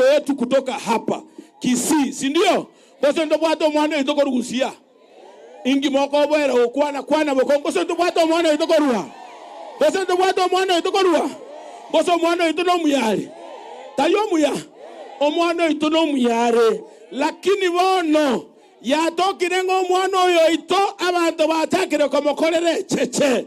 Ndugu yetu kutoka hapa kisii sindio? Gose ntobwate omwana oito korwa siya? Inki mokoboera gokwana kwana bokongo gose ntobwate omwana oito korwa? Gose ntobwate omwana oito korwa? Gose omwana oito nomuyare? Tari omuya? Omwana oito nomuyare. Lakini bono yatokire ng'a omwana oyo oito abanto bachakire komokorera echeche.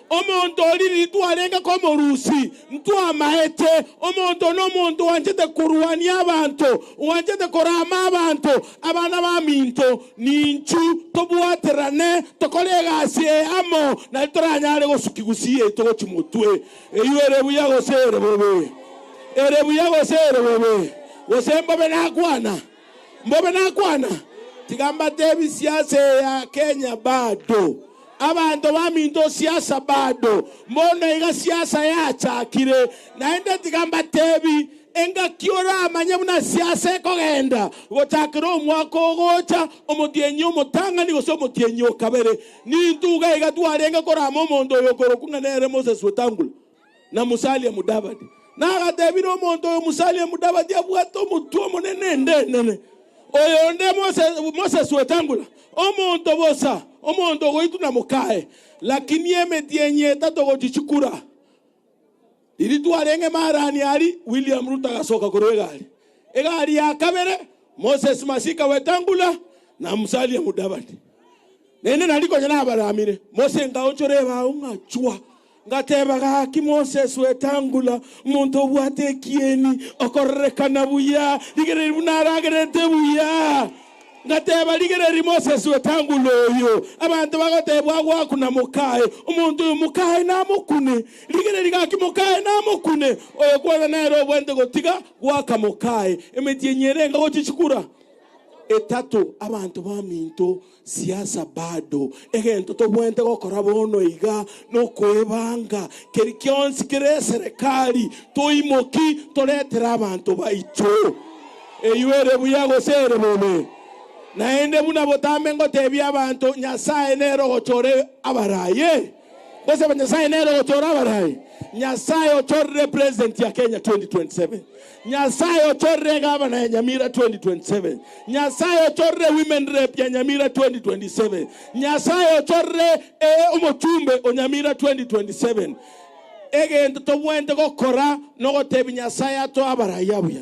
Omonto o ririri twarenge komorusi, ntwamaete. Omonto oo nomonto oanchete korwania abanto, oanchete korama abanto, abana baminto. Ninchu tobwaterane, tokore egasi eye amo, na titoranyare gosuki gusi yaito gochi motwe. Eywo ere buya gose ere bobe? Ere buya gose ere bobe? Gose mbobe nakwana? Mbobe nakwana, tiga mbatebi siasa eye ya Kenya bado. Abanto baminto siasa bado, mbono iga siasa yachakire. Naende tiga mbatebi, engaki oramanye buna siasa ekogenda gochakera omwaka ogocha, omotienyi omotang'ani gose omotienyi o kabere. Nintwe iga iga twarenge korama omonto oyo okorokwa ng'a nere Moses Wetangula. na Musalia Mudavadi, na agatebira omonto oyo Musalia Mudavadi abwate omotwe omonene ende enene, oyonde Moses Wetangula, omonto bosa, omonto ogoitwa na mokaye, lakini emetienyi etato gochia chikura riria twarenge Marani aria William Ruto agasoka korwa egari, egari ya kabere Moses Masika Wetangula na Musalia Mudavadi. Naende nari konya nabaramire, Mose ngaonchora ebao, ngachwa, ngateba, Gaki Moses Wetangula, omonto obwate ekieni, okorerekana buya, rigereria buna aragerete buya. Ngateba, Rigereria Moses Wetangula oyo, abanto bagotebwa agwo aku na moka aye, omonto oyo moka aye namokune. Rigereria gaki moka aye namokune, oyo kwana nere obwate gotiga goaka moka aye. Emetienyi ere enga gochia chikura etato, abanto baminto. Siasa bado. Egento tobweente gokora bono iga nokoebanga keri kionsi kere eserekari toimoki toretere abanto baito. Eyio ere buya gose ere bobe? Naende buna botambe ngotebia abanto Nyasae nere ogochora abaraye. Gose aba Nyasaye nere ogochora abarai? Nyasaye ochorire president ya Kenya 2027. Nyasaye ochorire egavana ya Nyamira 2027. Nyasaye ochorire women rep ya Nyamira 2027. Nyasaye ochorire ee omochumbe o Nyamira 2027. Egento tobwenerete gokora nogotebia Nyasaye atoe abarai abuya.